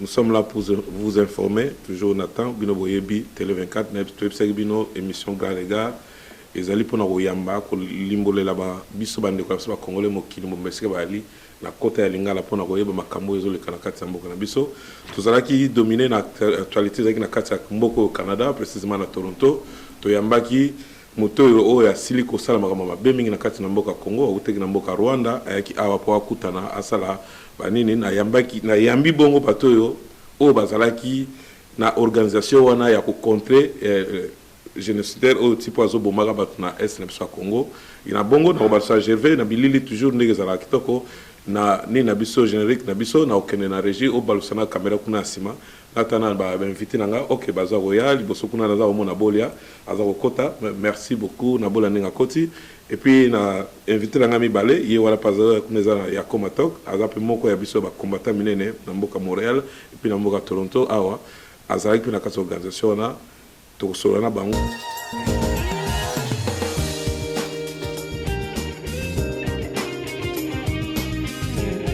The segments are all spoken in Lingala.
Nous sommes là pour vous informer toujours na temps bino boyebi tele 24 nayebi toyebisaki bino emission gare le gare ezali pona koyamba kolimbolela ba biso ba ndeko na biso ba congolais mokili mobimba esika bayali na kota ya lingala pona koyeba makambo oyo ezoleka na kati ya mboka na biso tozalaki domine na actualite ezalaki na kati ya mboka oyo Canada precisement na Toronto toyambaki Moto oyo, oyo asili kosala makambo ya mabe mingi na kati na mboka Congo, awutaki na mboka Rwanda, ayaki awa mpo akutana, asala ba nini. Nayambaki, nayambi bongo bato oyo, oyo bazalaki na organisation wana ya ko contrer genocidaire oyo tipo azo bomaka bato na Est na biso ya Congo. Et na bongo, na kobalisa Gervais na bilili toujours ndenge ezalaka kitoko, na nini na biso, generique na biso, na kokende na regie, obalusa na camera kuna ya sima, Lata na ba invite na nga ok baza koya liboso kuna naza komona bolia aza kokota merci beaucoup na bolia ndenge akoti et puis na invite na nga mibale ye wana pe aza kuna eza ya comatok aza pe moko ya biso ya ba combattant minene na mboka Montreal et puis na mboka Toronto awa azalaki pe na kati ya organisation wana Tokosolola na bango.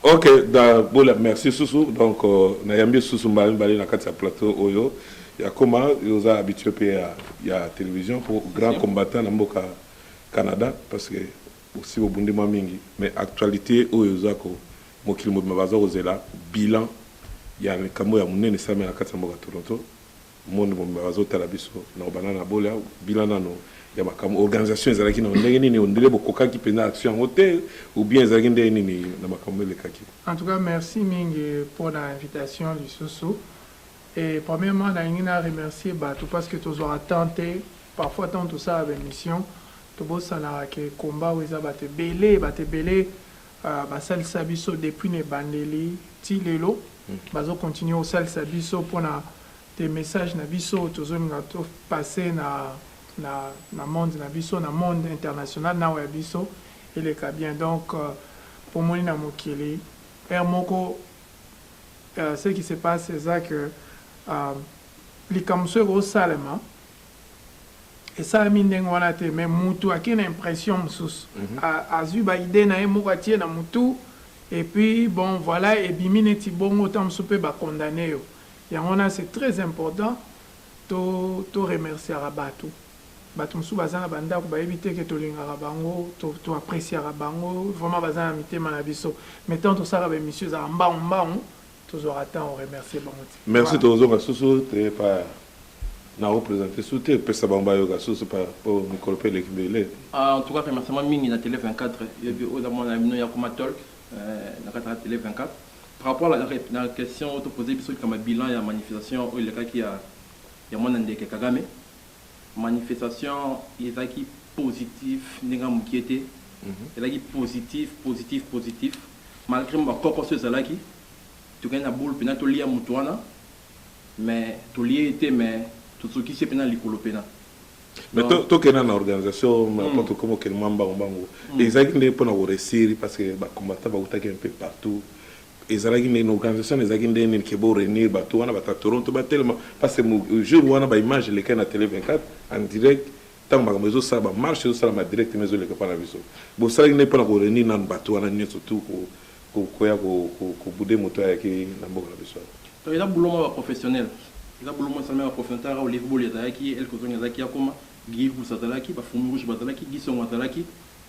Ok, da bola merci susu donc euh, nayambi susu mbala mibale na kati ya plateau oyo ya koma oza habitué mpe ya, ya télévision pour grand combattant na mboka Canada parce que osi bobundi mwa mingi mais actualité oyo oza ko mokili mobimba baza kozela bilan ya likambo ya monene esalami na kati ya mboka Toronto Monde mobimba bazo tala biso nao banda na bola bila nano ya makambo organisation ezalaki nao ndenge nini ondele bokokaki penza action yango te ou bien ezalaki ndenge nini na makambo elekaki. En tout cas merci mingi pona invitation lisusu et premièrement nalingi na remercier batu parce que tozwaka temps te parfois tango tosala ba emission tobosanaka que combat oyo eza batu ebele batu ebele Basalisa biso depuis na ebandeli ti lelo bazo continuer kosalisa biso pona des messages na biso tozolinga to passer na monde na biso na monde international nao ya biso eleka bien donc bomoni na mokili heure moko ce qui se passe eza que likambo soki ekosalema Esalami ndenge wana te mais mutu ake na impression mususu. Azui ba idees naye moko atie na mutu et puis bon voila ebimi neti bongo tango mususu pe ba condamne yo. Yango wana c'est très important to remerciaka batu. Batu mususu baza na ba ndaku bayebi te que tolingaka bango, to appreciaka bango vraiment baza na mitema na biso mais tango tosalaka ba emissions ezalaka mbangu mbangu. Tozwaka temps o remercier bango te. Merci tokozonga susu te epa na o presenter su te pesa bango bayoka susu epa po mikolo pe eleki ebele. En tout cas remerciement mingi na tele 24 yebi oyo eza muana na bino ya kuma talk na kati na tele 24 par rapport na question oyo to poser biso likambo ya bilan ya manifestation oyo elekaki ya muana ndeke kagame Manifestation ezalaki positif ndenge ya mukie te, ezalaki positif, positif, positif malgre mua ba kokoso ezalaki, tokei na boule pena tolia mutu wana mais tolie ye te mais tosukisi ye pena likolo pena. Mais to to kenda na organisation po tokoma kokende mua mbangu mbangu, ezalaki nde pona ko reussir parce que ba combattants bawutaki un peu partout, ezalaki ndenge nini organisation wana ezalaki ndenge nini ke bo reunir bato wana bato ya toronto batelema parce que mo- jour wana ba image elekaki na tele 24 en direct ntango makambo ezosala ba marche ezosalama direct ma ezoleka mpa na biso bosalaki ndenge mpo na ko reunir nanu bato wana nyonso tu ko- ko- koya ko- ko- kobude moto oyo ayaki na mboka na biso awa Donc eza boulot moko ya professionnel. Eza boulot moko esalami ya professionnel tala kaka Olivier Boli azalaki, El Kozongi azalaki akoma, Guy Ikusa azalaki, ba Fumbi Rouge bazalaki, Guy Songo azalaki,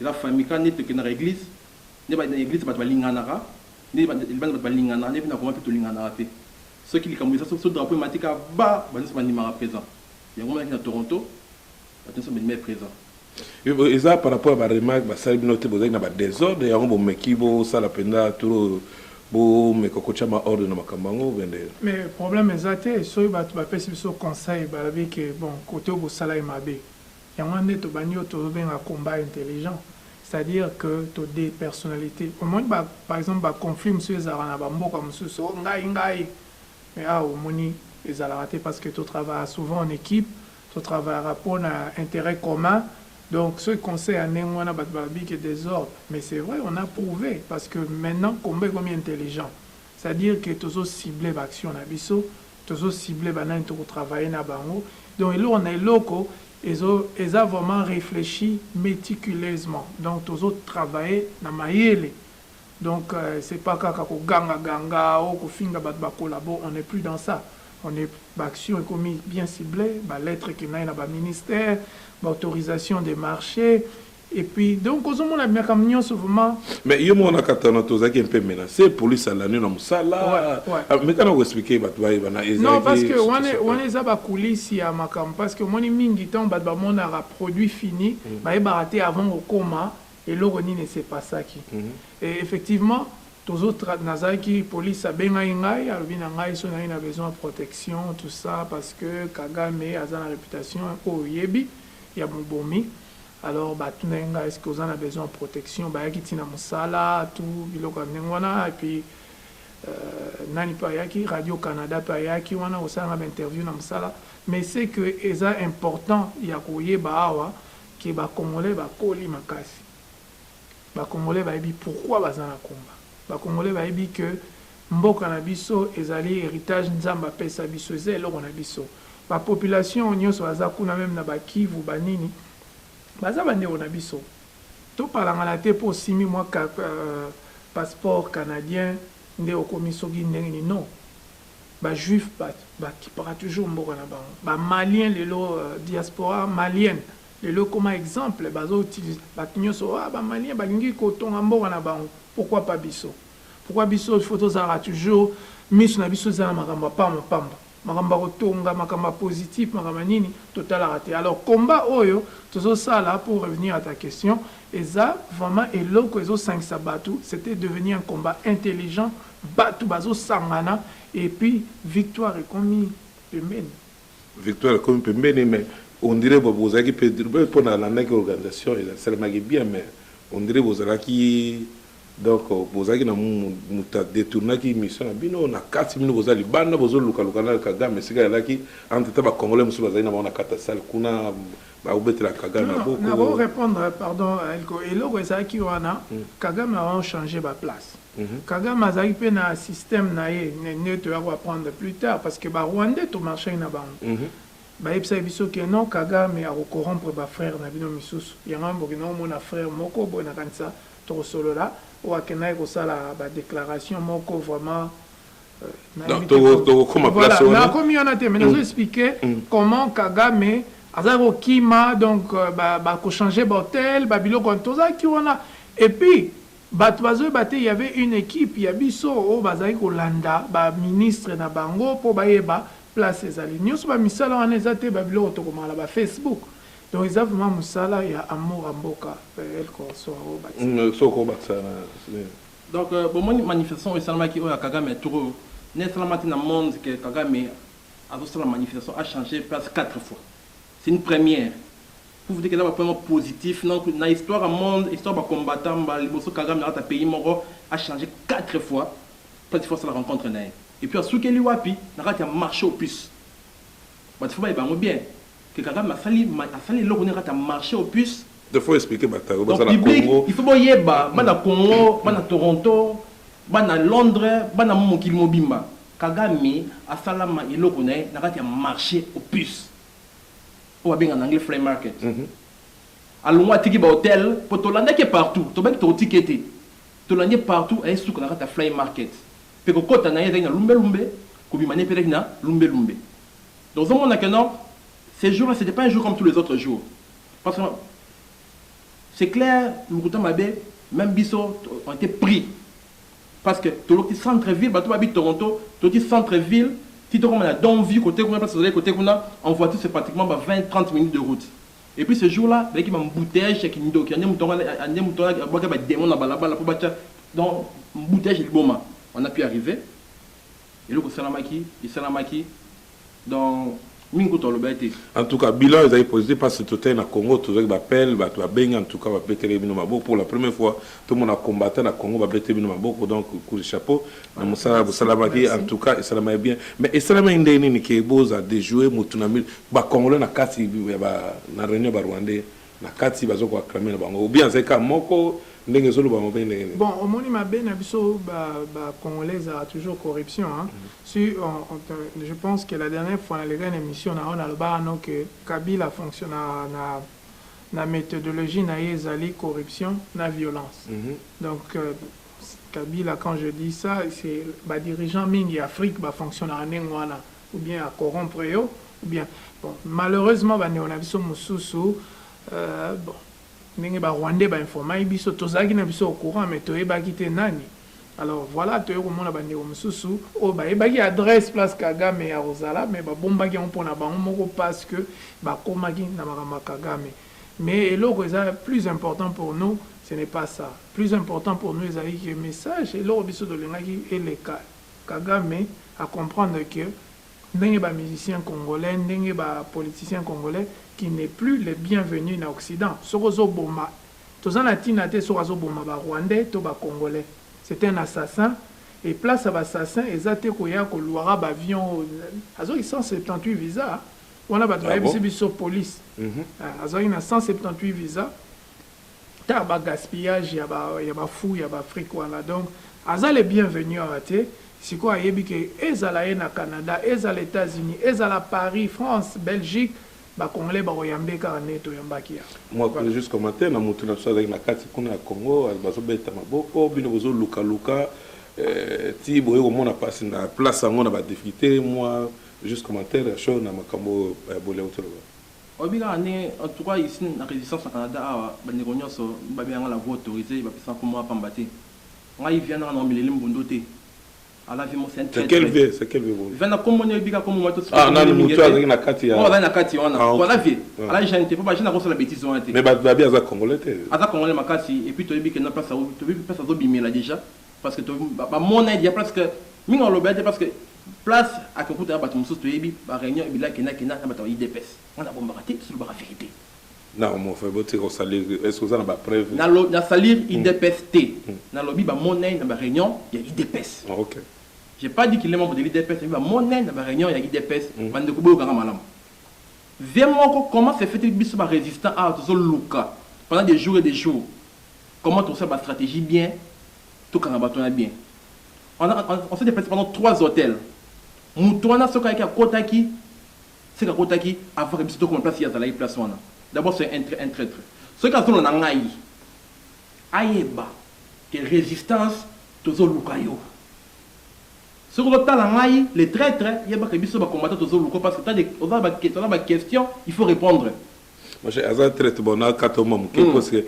Eza famille kaka nde tokendaka eglise nde na eglise batu balinganaka nde libanda batu balinganaka nde pe na goma pe tolinganaka te soki likambo eza soki so drapeau emati kaka ba batu nionso bandimaka present yango omonaki na Toronto batu nionso bandimaki present. Eza par rapport ya ba remarque basali bino te bozalaki na ba desordre yango bomeki bosala penza trop bomeka kotia mua ordre na makambo yango ou bien nde. Mais problème eza te soki batu bapesi biso conseil balobi que bon cote oyo bosala ye mabe Yango wana nde tobandi oyo tozobenga combat intelligent, c'est à dire que to depersonnalite. Omoni ba par exemple ba conflits mosusu ezalaka na ba mboka mosusu, oh ngai ngai, mais awa omoni ezalaka te parce que to travaillaka souvent en equipe, to travaillaka po na interet commun, donc soki conseil ya ndenge wana batu balobi que desordre, mais c'est vrai on a prouve parce que maintenant combat ekomi intelligent, c'est à dire que tozo cibler ba actions na biso, Tozo cible ba nani toko travailler na bango donc eloko na eloko ezo eza vraiment reflechi meticuleusement donc tozo travailler na mayele donc c'est pas kaka ko ganga ganga oh ko finga batu ba collabo on n'est plus dans ça on est ba action ekomi bien cible ba lettre ekendayi na ba ministère ba autorisation de marche Et puis donc ozo mona makambo nyonso vraiment. Mais yo mona katana tozaki un peu menacé police alani na musala. Ouais, ouais. Ah, mais kana ko expliquer batu baye bana ezaki. Non parce que wana wana eza ba coulisses ya makambo parce que moni mingi tant batu ba monaka produit fini mm. ba yebaka te avant kokoma eloko nini se passaki. Mm -hmm. Et effectivement tozo nazalaki police abengaki ngai alobi na ngai so naye na besoin ya protection tout ça parce que kagame aza na réputation oyo oyebi ya mobomi alors ba tunaki nga est ce que oza na besoin ya protection, bayaki ti na musala tout biloko ya ndenge wana et puis nani pe ayaki radio canada pe ayaki wana kosala nga ba interview na musala mais ce que eza important ya koyeba awa ke ba congolais bakoli makasi ba congolais bayebi pourquoi baza na combat ba congolais bayebi ke Mboka na biso ezali heritage nzambe apesa biso eza eloko na biso ba population nioso baza kuna meme na ba kivu ba nini baza ba ndeko na biso to palangana te po osimbi mwa passeport canadien nde okomi soki ndenge nini non ba juif ba kipaka toujours mboka na bango ba malien lelo diaspora malienne lelo ekoma exemple bazo utilise batu nioso ba malien balingi ko tonga mboka na bango pourquoi pas biso. Pourquoi biso il faut tozalaka toujours misu na biso eza na makambo ya pamba pamba, makambo ya kotonga, makambo ya positif, makambo ya nini totalaka te. Alors combat oyo tozo sala pour revenir à ta question eza vraiment eloko ezo sangisa batu, c'etait devenu un combat intelligent, batu bazo sangana et puis victoire ekomi pembeni. Victoire ekomi pembeni mais on dirait bozalaki pe po na landaki organisation esalemaki bien mais on dirait bozalaki Donc bozalaki na mutu a detournaki emission na bino na kati bino boza libanda bozo luka luka na kagame esika alaki entre temps ba congolais mususu bazali na bango na kati ya salle kuna ba betela kagame na boko na ko repondre pardon elko eloko ezalaki wana kagame a changer ba place kagame azalaki pe na système na ye nde toya ko apprendre plus tard parce que ba rwandais to marchaki na bango ba yebisaki biso que non kagame ako corrompre ba frères na bino misusu yango wana bokendaki komona frère moko boye na kanisa Tokosolola oyo akendaki kosala ba declaration moko vraiment nakomi wana te mais nazo explique comment kagame azalaki kokima donc ba ko change ba hotel ba biloko wana tozalaki wana et puis batu bazoyeba te il y'avait une equipe ya biso oyo bazalaki kolanda ba ministre na bango po bayeba place ezali nioso ba misala wana eza te ba biloko tokomaka na ba Facebook Donc eza vraiment musala ya amour ya mboka El Corso a ko bakisa. Hum soki oko bakisa na nini? Donc bomoni manifestation oyo esalamaki oyo ya kagame tour oyo nde esalama te na monde que kagame azo sala manifestation a changer place quatre fois c'est une première pour vous dire que eza ba point moko positif donc na histoire ya monde histoire ba combattants mbala liboso kagame na kati ya pays moko a changer quatre fois place il faut asala rencontre na ye et puis asukeli wapi na kati ya marche aux puces batu il faut bayeba yango bien Que kagame asali asali eloko nini kata marche au puce. Donc faut expliquer bata oyo baza na congo. Donc public il faut boyeba bana congo bana toronto bana londre bana mokili mobimba kagame asala ma eloko na ye na kati ya marche au puce oyo babenga na anglais flay market alongwa atiki ba hotel po tolandaki ye partout tobaki tokotika ye te tolandi ye partout aye suka na kati ya flay market pe kokota na ye ezalaki na lumbe lumbe kobima na ye pe ezalaki na lumbe lumbe Donc ozo mona que non ce jour là c'etait pas un jour comme tous les autres jours parce que c'est clair lokuta mabe meme biso on était pris parce que tolokti centre ville bato babi Toronto tolokti centre ville ti tokoma na Donview côté kuna place tozalaki côté kuna en voiture c'est pratiquement ba 20 30 minutes de route et puis ce jour là bayaki ba embouteillage ya kindoki ande moto ande moto abwaki ba demon na balabala po batya donc embouteillage liboma on a pu arriver eloko esalamaki esalamaki donc mingi kutu alobaki te en tout cas bilan ezali positif mpasi totai na congo tozwaki bapele bato babengi en tout cas babetele bino maboko pour la première fois tomona combattant na congo babetele bino maboko donc coup de chapeau na mosala bosalamaki en tout cas esalamaki bien mais esalamaki ndenge nini ke boza dejoue motu na mil bacongolais na kati na réunion barwandais na kati bazo ko acclamer na bango ou bien azali kaka moko ndenge ezo lobama ou bien ndenge nini? Bon omoni mabe na biso ba ba congolais ezalaka toujours corruption hein si on on te je pense que la dernière fois na leka na emission na yo na lobaka no que kabila a fonctionnaka na na methodologie na ye ezali corruption na violence donc kabila quand je dis ça c'est ba dirigeants mingi ya afrique ba fonctionnaka ndenge wana ou bien a corrompre yo ou bien bon malheureusement ba ndeko na biso mususu euh, bon ndenge ba rwandais ba informaki biso tozalaki na biso au courant mais toyebaki te nani alors voilà toye komona ba ndeko mususu oyo bayebaki adresse place kagame ya kozala mais babombaki yango mpona bango moko parce que bakomaki na makambo ya kagame mais eloko eza plus important pour nous ce n'est pas ça plus important pour nous ezalaki que message eloko biso tolingaki eleka Kagame a comprendre que ndenge ba musiciens congolais, ndenge ba politiciens congolais qui n'est plus le bienvenu na occident. Soki ozo boma, toza na tina te soki azo boma ba rwandais to ba congolais. C'est un assassin et place ya b'assassins eza te koya ko luaka b'avions oyo azwaki 178 visas wana batu bayebisi biso police azwaki na 178 visas. ta ba gaspillage ya ba ya ba fou ya ba afrique wana donc aza le bien venu awa te sikoyo ayebi ke ezala ye na canada ezala etats unis ezala paris france belgique ba congolais bako yambe kaka ndenge to yambaki ya mua kuna juste commentaire na mutu na biso azalaki na kati kuna ya congo bazo beta maboko bino bozo luka luka eh, ti boye komona pasi na place yango na ba difficulté mua juste commentaire ya show na makambo ya eh, bolia otoloba Oyebi kaka ndenge en tout cas ici na resistance na Canada awa ba ndeko nionso ba benga nga na voix autorisee ba pesa nga kombo wana pamba te ngai vianda nga na omeleli mbundo te a la vie moi c'est un très très vianda kombo nini oyebi kaka kombo mwa to sika kombo nini mingi ete oyo azali na kati wana po aza vie ala jeune te po ba jeune ako sala betise wana te mais ba ba aza congolais te aza congolais makasi et puis to yebi ke na place to yebi place azo bimela dejà parce que to ba mona ye dejà presque mingi aloba ye te parce que place ake okuta na bato mosusu toyebi ba reunion ebila kenda kenda na bato ya udps nga na bombaka te tozo lobaka verite na homofe botika kosalir est oza na ba preuve na lo na salir hmm. udps te hmm. na lobi ba monnaie na ba reunion ya udps ah, ok j'ai pas dit qu'il est membre de l'udps mais ba monnaie na ba reunion ya udps hmm. bande ko boyoka nga malamu vie moko comment se fait-il biso ba résistant ah tozo luka pendant des jours et des jours comment tosala ba stratégie bien Tokanga bato wana bien. On a, on s'est deplacé pendant trois hotels. Moto wana soki ayaki akotaki, seke akotaki avant que biso tokoma place ye azalaki place wana. D'abord c'est un, un traitre. Soki azolona ngai, ayeba que resistance tozoluka yo. Soki ozotala ngai le traitre, yeba que biso ba combattants tozoluka yo parce que oza na ba questions il faut repondre. Parce que aza traite bon na kata mwa moke mm. parce que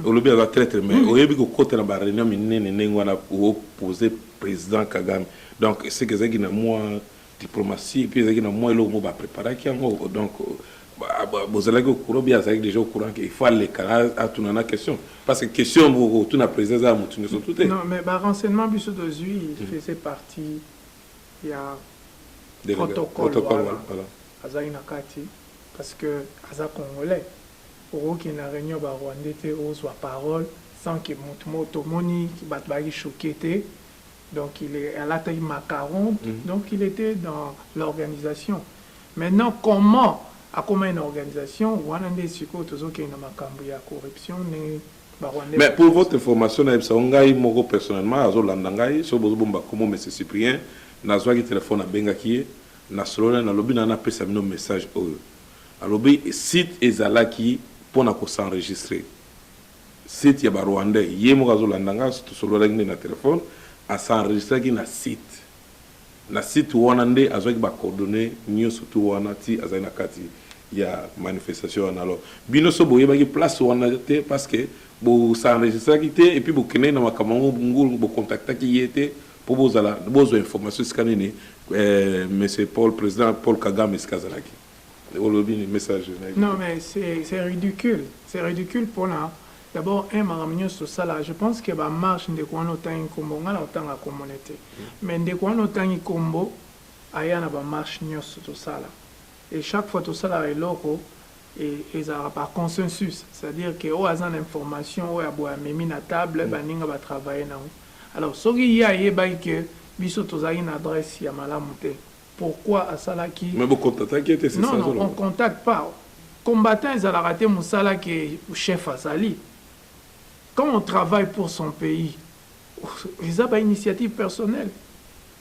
olobi aza traite mais mm. oyebi kokota na ba réunion minene ndenge wana opose président kagame donc seke ezalaki na mwa diplomatie mpe ezalaki na mwa eloko mo bapreparaki yango donc bozalaki okura bi azalaki déjà au courant qu'il faut aleka atuna na question parce que question bokotuna président eza ya motu nyonso tu te non mais barenseignement biso tozwi mm. faisait partie ya protocole voilà Azali na kati parce que aza congolais oko kende na reunion ya ba rwandais te ozua parole sans que mutu moko tomoni batu bayaki choque te donc il est alataki macaron donc il etait dans l'organisation maintenant comment akomaki na organisation wana nde sikoyo tozo kende na makambu ya corruption ndenge ba rwandais Mais pour votre information na yebisa yo ngai moko personnellement azo landa ngai soki bozo bomba kombo monsieur Cyprien nazuaki telephone na bengaki ye Na solo naye nalobi na na pesa bino message oyo alobi site ezalaki pona ko s'enregistre site ya ba rwandais ye moko azo landa nga to sololaki nde na telephone a s'enregistraki na site na site wana nde azwaki ba coordonnees nioso tout wana ti azali na kati ya manifestation wana alors bino soki boyebaki place wana te parce que bo s'enregistraki te et puis bokendeki na makambo yango ngulu bo contactaki ye te Po bozala bozwa information esika nini eh, monsieur Paul president Paul Kagame esika azalaki olobi ni message na Non mais c'est c'est ridicule, c'est ridicule pona d'abord un makambo nyonso tosala je pense que ba marche ndeko wana otangi nkombo ngai na kotanga nkombo ne te mais ndeko wana otangi nkombo aya na ba marche nyonso tosala Et chaque fois tosalaka eloko ezalaka par consensus c'est à dire que oyo aza na information oyo ya boye amemi na table baninga ba travailler na yango alors soki ye ayebaki que biso tozalaki na adresse ya malamu te pourquoi asalaki Mais bo contactaki ye te c'est ça azoloba? Non non on contacte pas combattant ezalaka te musala que chef azali quand on travaille pour son pays Eza ba initiative personnel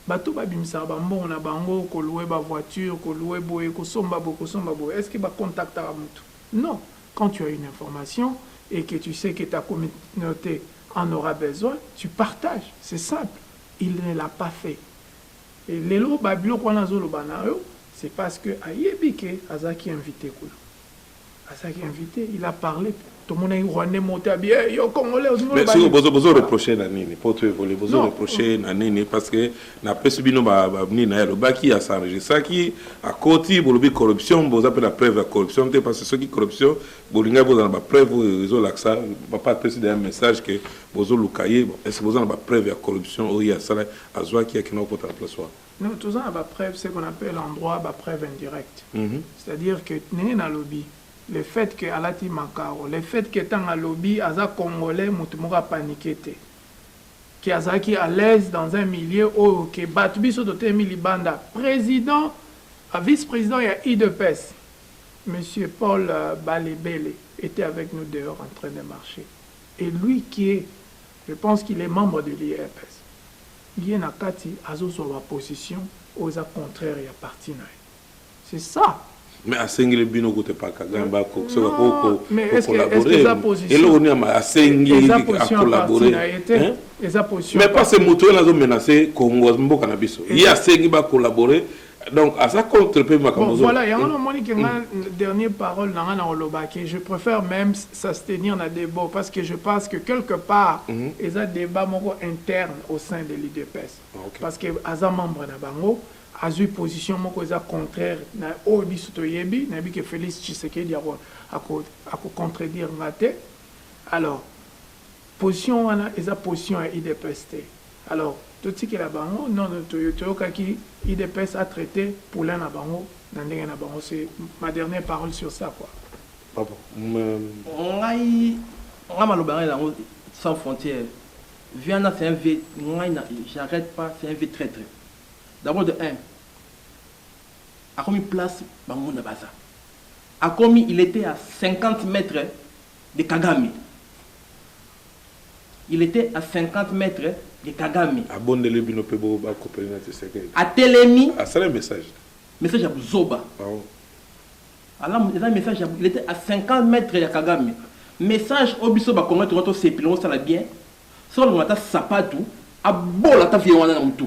bato ba bimisaka ba mbongo na bango ko loue ba voiture ko loue boye ko somba boye ko somba boye est ce que ba contactaka mutu? Non quand tu as une information et que tu sais que ta communaute en aura besoin tu partage c'est simple il ne l'a pas fait et lelo ba biloko wana azo loba nayo c'est parce que ayebi que azalaki invite kuna. azalaki invite il a parle tomonaki rwandais moko te abi eh, yo congolais ozingi Mais oloba siko nini? bozo bozo reprocher na nini po to évoluer bozo Non. reprocher na nini parce que na pesi bino ba ba nini na lobaki a s'enregistraki a koti bolobi corruption boza pe na preuve ya corruption te parce que soki corruption bolinga boza na ba preuve oyo ezo lakisa papa pesi d'ailleurs message que bozo luka ye bon est-ce que boza na ba preuve ya corruption oyo ye asala azwaki akenda kota na place wana Non toza na ba preuves ce qu'on appelle en droit ba preuves indirectes c'est à dire que ndenge na lobi le fait que alati makaro le fait que tango alobi aza congolais mutu moko a panique te que azalaki à l'aise dans un milieu oyo que batu biso totelemi libanda president vice president ya udps monsieur Paul Balebele etait avec nous dehors en train de marcher et lui qui est Je pense qu'il est membre de l'UDPS ye na kati azo zua ba position oyo eza contraire ya parti na ye c'est ça. Mais asengeli bino kutu epa Kagame ba soka ko ko collaborer eloko nini ama asengi a collaborer hein mais pas ce moto oyo azo menacer Congo mboka na biso ye asengi ba collaborer donc aza contre pe makambo bon, voilà yango na moni ke nga mm. dernier parole na nga na oloba ke je préfère même s'abstenir na debo parce que je pense que quelque part mm -hmm. eza débat moko interne au sein de l'UDPS ah, okay. parce que aza membre na bango azui position moko eza contraire na oyo biso toyebi nayebi ke Félix Tshisekedi ako ako, ako contredire nga te alors position wana eza position ya UDPS te Alors totikela bango non non toyokaki udps a traite poulain na bango na ndenge na bango c'est ma dernière parole sur ça quoi. Ah bon mais. Ngai ngai maloba ngai nango sans frontière vieux wana c'est un vieux ngai na j'arrête pas c'est un vieux traitre d'abord de un akomi place banguna baza akomi il était à 50 mètres de kagame il etait à 50 mètres de kagame abondeli bino pe bo ba copele na tshisekedi atelemi asali message te message ya buzoba ah alamu eza message il etait à 50 mètres ya kagame message oyo biso ba congolais tongo tosepela osala bien soki alongola ata sapatu abola ata vie wana na mutu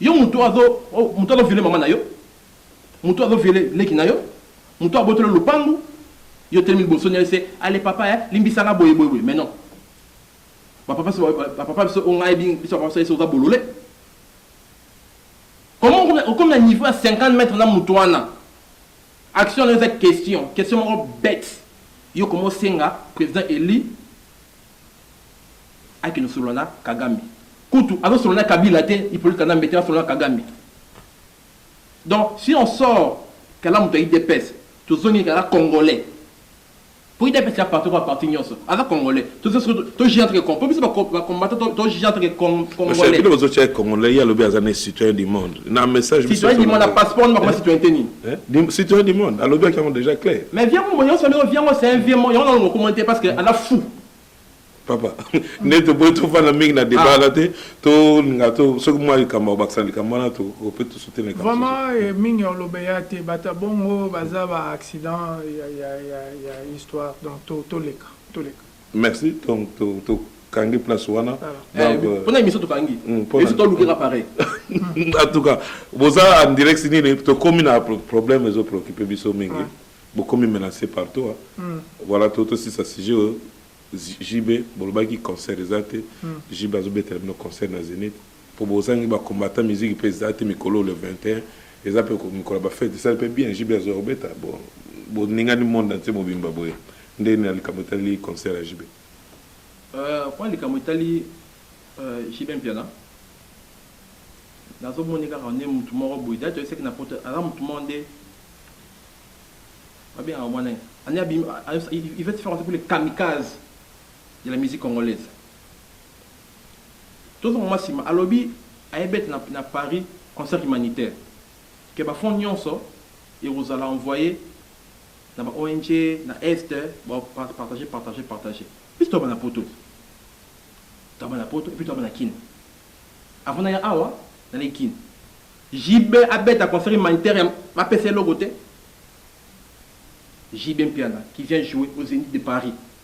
Yo mutu azo mutu azo viole maman nayo mutu azo viole leki nayo mutu abotoli yo lopangu yo otelemi liboso naye se ale papa eh limbisa nga boye boye boye mais non ba papa biso ba papa biso oyo ngai nayebi biso ba papa biso esi oza bolole comment okomi na niveau ya 50 mètres na mutu wana action nayo eza question question moko bête yo komi osenga président élu Akende solola na kagame kutu azo solola na kabila te ipolite kanambe te asolola na kagame donc si on sort kala moto ya idps tozongi kala congolais po idps ya parti kwa parti nyonso aza congolais to juge entre po biso ba combattant to juge entre congolais bino bozo tia congolais ye alobi aza ne citoyen du monde na message citoyen du monde na passeport nima koma citoyen te nini Hein? Citoyen du monde, alobi yaki yango déjà clair. Mais vieux Mumbo yonso alobi vieux yango c'est un vieux mot, yango nalo mokoma te parce que ala fou. Papa, nde toboyi tofanda mingi na débat ah. na te, tolinga to soki mwa likambo bakisa likambo wana to ope to soutien likambo. Vraiment eh, mingi olobe ya te, bata bongo baza ba accident ya ya ya ya histoire donc to toleka, toleka. Merci donc to to kangi place wana donc euh, pona émission tokangi hmm, esi tolukela pareil en tout cas boza en direct nini tokomi na problème ezo préoccupe biso mingi bokomi menacé partout hein. Hmm. voilà to tosisa sujet oyo jb bolobaki concert eza te hmm. jb azobetela bino concert na zénith Po bozangi ba combattants musique pe eza te mikolo oyo le 21 eza pe mikolo ya ba fete esali pe bien JB azoya kobeta bo boningani monde entier mobimba boye nde nini na likambo etali concert ya JB? Euh po na likambo etali JB Mpiana nazo mona ye kaka nde mutu moko boye d'ailleurs toyesaki na poto aza mutu moko nde ba bengaka mwana nani ane abimi il veut se faire passer pour le kamikaze de la musique congolaise Tozo mama sima alobi aye bete na na Paris concert humanitaire que ba fonds nionso ekozala envoye na ba ong na est ba partage partage partage biso toyaba na poto te toyaba na poto epuis toyaba na kin avant naya awa naleki kin JB abeta concert humanitaire ba pesa eloko te JB Mpiana qui vient jouer au zenith de Paris.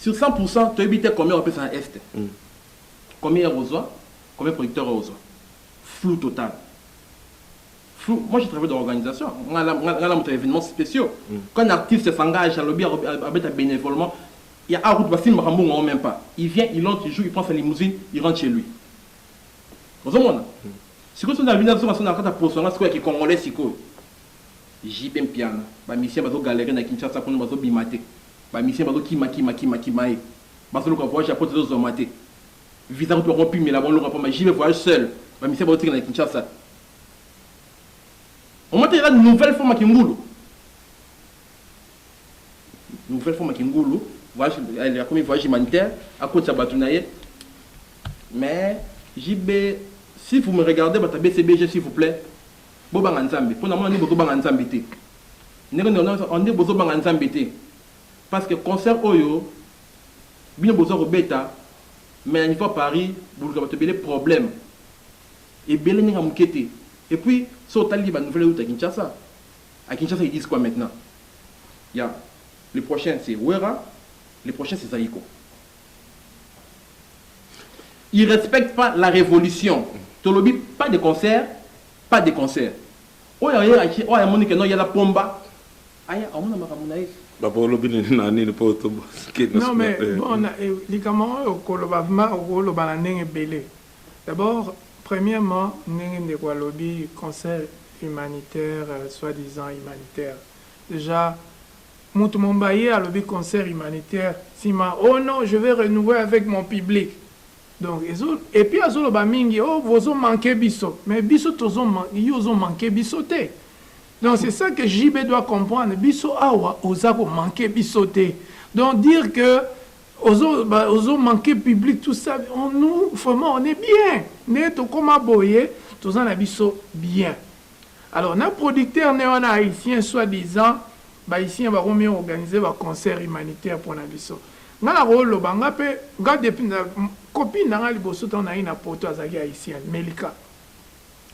Sur 100 pour 100 toyebi te combien ba pesa na Est. Combien ya kozwa, combien producteur oyo ozwa. Flou total. Flou, moi je travaille dans l'organisation. Nga la nga la mutu evenement speciaux. Quand un artiste s'engage à lobby à beta benevolement, il y a un route basil makambo on même pas. Il vient, il entre, il joue, il prend sa limousine, il rentre chez lui. Ozo mona? Sikoyo soki na bina biso na sona kata poso nga sikoyo ya ki congolais sikoyo. JB Mpiana, ba musiciens bazo galere na Kinshasa kuna bazo bima te, ba musiciens bazo kima kima kima kimaee, bazo luka voyage ya poto ezo zwama te, visa kutu bako pimela bango eloko ya pamba, JB voyage seul, ba musiciens bazo tikala na Kinshasa. Omoni te eza nouvelle forme ya kingulu? Nouvelle forme ya kingulu, voyage akomi voyage humanitaire, akotisa batu na ye mais JB si vous me regardez batu ya BCBG s'il vous plait Bobanga nzambe pona mona nde bozobanga nzambe te ndenge nionso nde bozobanga nzambe te parce que concert oyo bino boza kobeta mais na niveau ya paris boluka bato ebele problème ebele ndenge ya moke te et puis so otali ba nouvelle euta kinshasa à kinshasa ils disent quoi maintenant ya le prochain c'est wera le prochain c'est zaiko Il respecte pas la revolution tolobi pas de concert pas de concert oyo aye akie oyo amoni keno yala pomba aya amona makambo na ye. Papa olobi nini na nini po to kende non mais bon likambo oyo okoloba vraiment okoloba na ndenge ebele d'abord premièrement ndenge ndeko alobi concert humanitaire soit disant humanitaire dejà Mutu mombaye alobi concert humanitaire sima oh non je vais renouer avec mon public donc ezo et puis azo loba mingi oh bozo manque biso mais biso tozo yo ozo manque biso te donc c'est ça que JB doit comprendre biso awa oza ko manque biso te donc dire que ozo ba ozo manque public tout ça on nous vraiment on est bien nde tokoma boye toza na biso bien. Alors na producteur ne wana haitien soit disant ba haitien bako mi organiser ba concert humanitaire pona biso nga na ko loba nga pe nga depuis na copine na nga liboso tango na ye na poto azalaki haitienne melika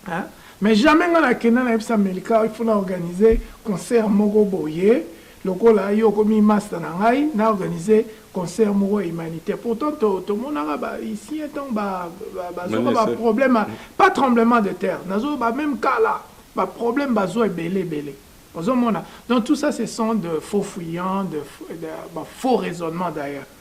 hein mais jamais nga na kenda na yebisa melika il faut na organiser concert moko boye Lokola yo okomi masta na ngai, na organiser concert moko ya humanitaire. Pourtant to tomonaka ba haïtiens tango ba bazoka ba problème pas tremblement de terre. Nazo ba même cas là, ba problème bazo ebele ebele. Ozo mona? Donc tout ça ce sont de faux fuyants, de, de ba faux raisonnement d'ailleurs.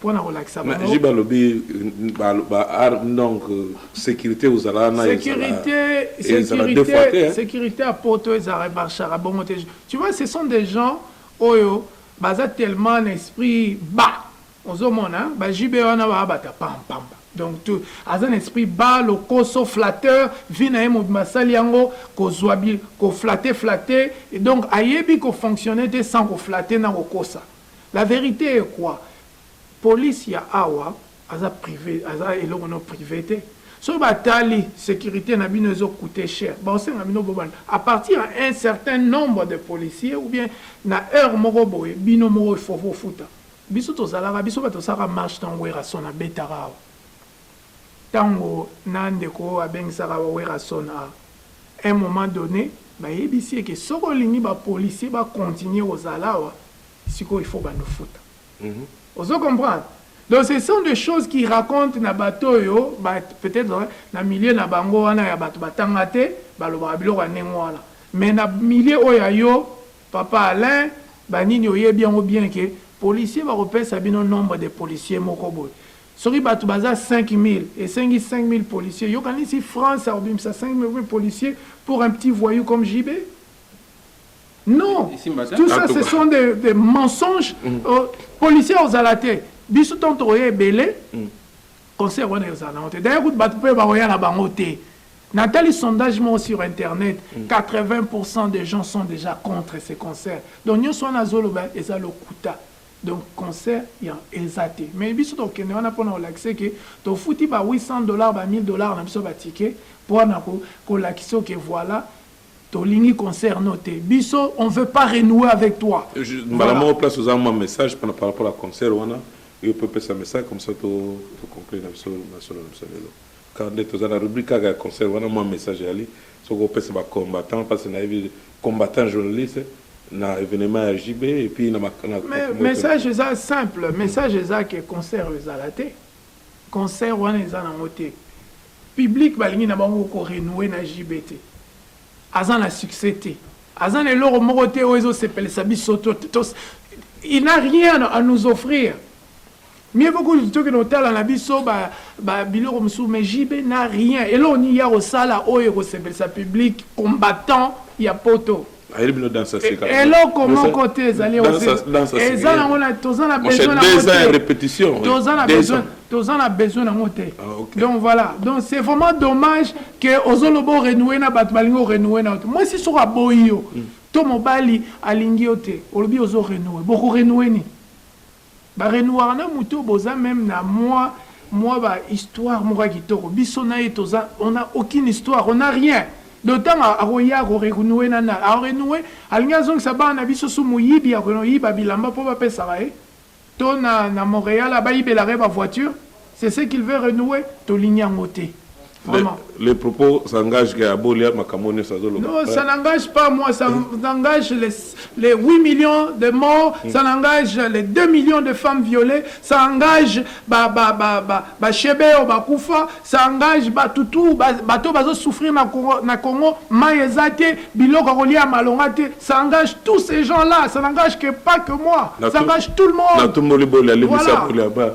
Pona kolakisa bango. Jibe alobi ba ba donc sécurité ozala na sécurité sécurité sécurité à poto ezala marchera bongo te tu vois ce sont des gens oyo baza tellement na esprit bas ozomona ba JB wana ba bata pam pam donc tout aza na esprit bas lokoso flatteur vie na ye mobimba asali yango kozwa bi koflate flate donc ayebi kofonctionne te sans koflate na kokosa La verite est quoi? Police ya awa aza prive aza eloko no prive te soki ba tali securite na bino ezo coute cher bao senga bino bo banda a partir ya un certain nombre de policiers ou bien na heure moko boye bino moko il faut bo futa biso tozalaka biso batu tosalaka marche tango Werrason abetaka awa Tango na ndeko oyo abengisaka ba Werrason a un moment donne bayebisi ye ke soki olingi ba policiers ba continuer kozala awa sikoyo il faut bando futa. Ozo comprendre? Donc ce sont des choses qui racontent na bato oyo ba peut etre na milieu na bango wana ya bato batanga te balobaka biloko ya ndenge wana mais na milieu oyo ya yo papa Alain ba nini oyebi yango bien ke policiers bakopesa bino nombre de policiers moko boye Soki batu baza 5000 esengi 5000 policiers yo kanisi France akobimisa 5000 policiers pour un petit voyou comme JB? Non, tout ça ce sont des, des mensonges. Mm. Euh, policiers ozala te. Biso tant tokoya ebele. Mm. Concert wana ozala nango te. D'ailleurs kutu batu pe bakoya na bango te. Nathalie, sondage moi sur Internet, 80% mm. des gens sont déjà contre ces concerts. Donc, nous sommes à Zoloba et Zalokuta. Donc concert yango eza te mais biso tokende wana pona kolakise ke tofuti ba 800 dollars ba 1000 dollars na biso ya ba ticket pona kolakise yo ke voila tolingi concert no te biso on veut pas renouer avec toi mbala moko place oza mwa message pona par rapport ya concert wana yo pe opesa message comme ça to conclure na biso masolo na biso lelo. Quand nde toza na rubrique kaka ya concert wana mua message eyali soki opesa ba combattants pasi nayebi combattants journaliste na evenement ya JB et puis na makambo Mais message eza simple message eza que concert oyo ezala te concert wana eza nango te public balingi na bango ko renouer na JB te aza na succès te aza na eloko moko te oyo ezo sepelisa biso to il n'a rien à nous offrir Mieux vaut kutu tokende kotala na biso ba, ba biloko mosusu mais JB na rien eloko nini ya kosala oyo ekosepelisa public combattant ya poto ayeli bino danse aseka e, eloko moko te ezali eza nango na toza na besoin nango te repetition toza na besoin toza na besoin nango te ah, okay. donc voilà donc c'est vraiment dommage que ozoloba orenouer na bato balingi orenouer na bato mwasi soko aboyi yo mm. to mobali alingi yo te olobi ozo renouer boko renouer nini Ba renoire na mutu oyo boza meme na mua mua ba histoire moko ya kitoko biso na ye toza on a aucune histoire on a rien donc tango akoya ako renoue na nani ako renoue alingi azongisa bana na biso su moyibi ako yiba bilamba po ba pesaka ye to na na Montreal ba yibelaka ye ba voiture C'est ce qu'il veut renouer, tolingi yango te. Vraiment. Les, les propos s'engagent que Abolia makambo nyoso azoloba. Non, ça n'engage pas moi, ça engage les, les 8 millions de morts, mm. ça engage les 2 millions de femmes violées, ça engage ba ba ba ba ba shebeo ba kufa, ça engage ba tutu ba bato bazo souffrir na Congo na Congo, maezate, biloko kolia malongate, ça engage tous ces gens-là, ça n'engage que pas que moi, ça engage tout le monde. Na tumboli bolia libisa bolia ba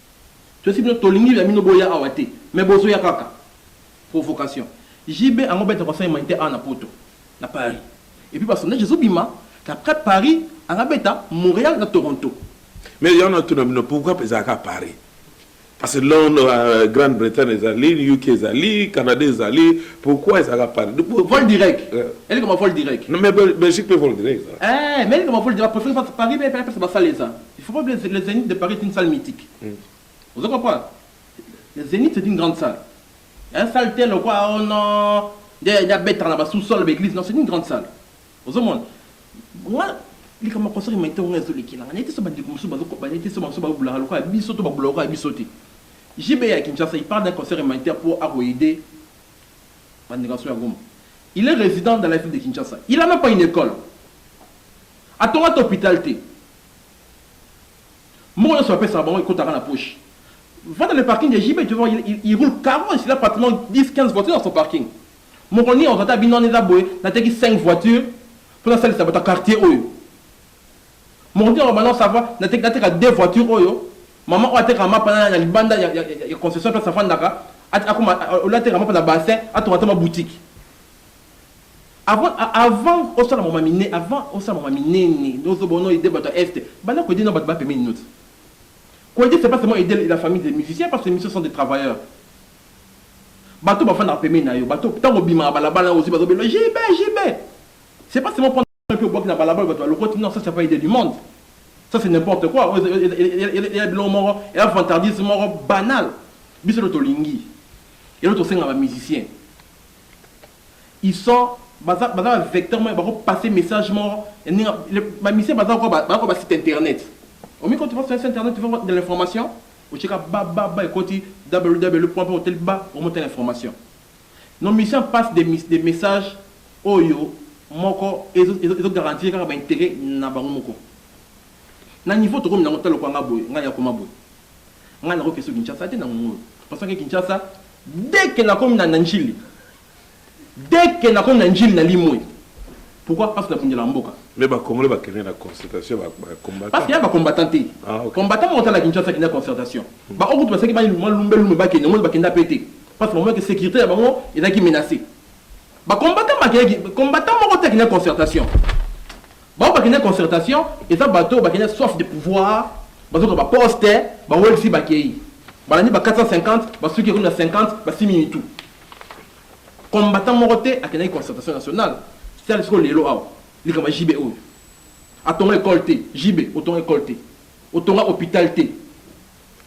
Toyebisi bino tolingi ya bino boya awa te mais bozo ya kaka. Provocation. JB ango beta concert humanitaire awa na poto, na Paris. Et puis ba sondage ezo bima que après Paris anga beta Montreal na Toronto. Mais yango na tuna bino pourquoi ezala kaka Paris? Parce que Londres, Grande Bretagne ezali, UK ezali, Canada ezali, pourquoi ezala kaka Paris? Vol direct. Eleka ma vol direct. Non mais Belgique pe vol direct ezalaka. Eeh mais eleka ma vol direct ba prefere Paris mais pesa ba salle eza. Il faut pas oublier le zenith de Paris est une salle mythique. Ozo comprendre? Le zenith c'est une grande salle. Hein salle te lokwa oh non nde nde abetaka na ba sous sol ba église non c'est une grande salle. Ozo mona? Nga likambo ya concert humanitaire nga ezo lekela nga. Nayete so ba ndeko mosusu bazo ko ba nayete so bango so ba bulaka lokwa biso to ba bulaka lokwa biso te. JB ya Kinshasa il part d'un concert humanitaire pour ako aider ba ndeko na so ya Goma. Il est résident dans la ville de Kinshasa. Il a même pas une école. Atonga ata hopital te. Mbongo nionso ba pesaka bango ekotaka na poche. Va dans le parking de JB, tu vas voir, il, il roule carrosse, il a pratiquement 10, 15 voitures dans son parking. Mokolo nini akozwa ata bino wana eza boye, nateki 5 voitures mpo nasalisa bato ya quartier oyo. Mokolo nini akoloba non ça va, nateki, nateka 2 voitures oyo, mama oyo atekaka mapa na, na libanda ya, ya, ya, ya concession place afandaka, at, akoma, au lieu atekaka mapa na bassin, atonga ata mwa boutique. Avant avant osala mama mine avant osala mama minene ozo bono aider batu ya est banda ko aider nao batu ba pembeni no ti ko aider c'est pas seulement aider la famille des musiciens parce que musiciens sont des travailleurs batu ba fandaka pembeni nayo batu tango obimaka balabala ozo bazo bela JB JB c'est pas seulement prendre Soki obwaki na balabala bato balokoti, non ça c'est pas idée du monde. Ça c'est n'importe quoi. Oyo eya biloko moko, eya vantardisme moko banal. Biso elo tolingi. Elo tosenga ba musiciens. Ils sont baza baza ba vecteur moko bako passer message moko ndenge ba musiciens baza ko ba ko ba site internet. Omi ko tu vas sur internet tu vas voir de l'information. Ocheka ba ba ba ekoti www.hotel ba omote l'information. Nos missions passe des mis des messages oyo moko ezo ezo garantir kaka ba interets na bango moko. Na niveau tokomi na ngo tala lokola nga boye nga ya koma boye nga nako kesu Kinshasa te na ngonga oyo pensant ke Kinshasa dès ke na komi na na Ndjili dès ke na komi na Ndjili na limue pourquoi parce na bundela mboka. Mais ba congolais ba kende na concertation ya ba combattants? Parce que y'a ba combattants te. Ah, okay. Combattants moko tala Kinshasa kende na concertation. Ba okutu basaki ba mwa lumbe lumbe ba kende ngo ba kenda pe te. Parce que ba monaki securite na bango ezalaki menace. Ba combattants bakendaki, combattant moko te akendaki concertation. Bango bakendaki concertation, eza bato oyo bakendaki soif de pouvoir, bazoka ba poste, ba welsi bakei. Balandi ba 450, basuki ekomi na 50, basimi mitu. Combattant moko te akendaki concertation nationale. Sala sikoyo lelo awa, likambo ya JB oyo. Atonga ecole te, JB otonga ecole te, otonga hopital te,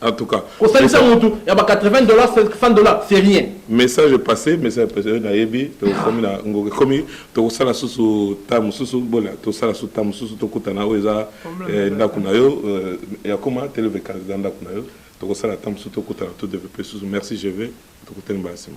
En tout cas. Kosalisa mutu ya ba 80 dollars 100 dollars c'est rien. Message passé, message passé euh, na yebi to komi na ngoke komi to kosala susu ta mususu bola to sala susu ta mususu to kutana oyo eza eh, ndako na yo euh, ya koma televe candidat ndako na yo to kosala ta mususu to kutana to développer susu. Merci je vais to kutana mbala sima.